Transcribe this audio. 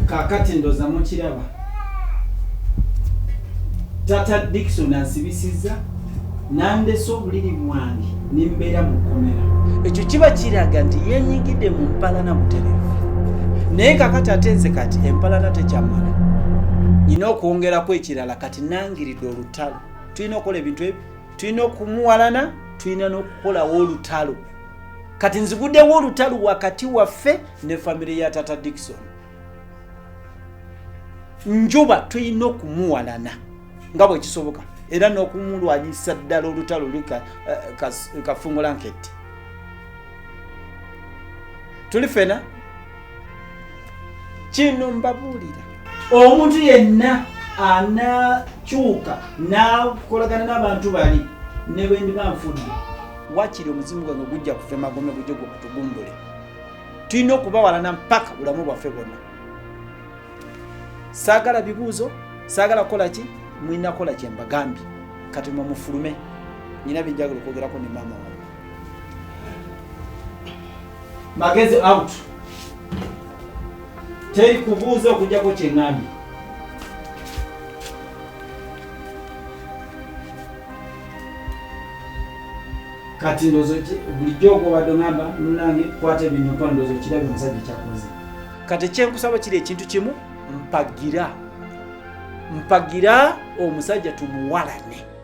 kakati ndoza mukiraba tata dikson ansibisiza nandese obuliri bwange nembeera mu kkomera ekyo kiba kiraga nti yenyigidde mu mpalana buterevu naye kakati ate nze kati empalana tekyamala nina okwongeraku ekirala kati nangiridde olutalo tulina okukola ebintu ebyo tulina okumuwalana tulina n'okukolawo olutalo kati nzigudewo olutalo wakati waffe ne famire ya tata dikison njuba tulina okumuwalana nga bwekisoboka era n'okumulwanyisa ddala olutalo luli eh, kafungulanketi tuli fena kino mbabuulira omuntu yenna anakyuka nakolagana n'abantu bali ne bwendiba nfudde wakiri omuzimu gwange gujja kufa emagome gujja gwe kutugumbule tulina okubawalana mpaka bulamu bwaffe bwonna saagala bibuuzo saagala kukola ki mulina kukola kye mbagambye kati mwe mufulume nina byenjagala okwogerako ne maama wange magezi out teri kubuuza okujjako kyeŋambye kati ndozo bulijjo ogobadde ngamba munange kwata ebintu mpa ndozo kirabe omusajja kyakoze kati ekyenkusaba kiri ekintu kimu mpagira mpagira omusajja tumuwalane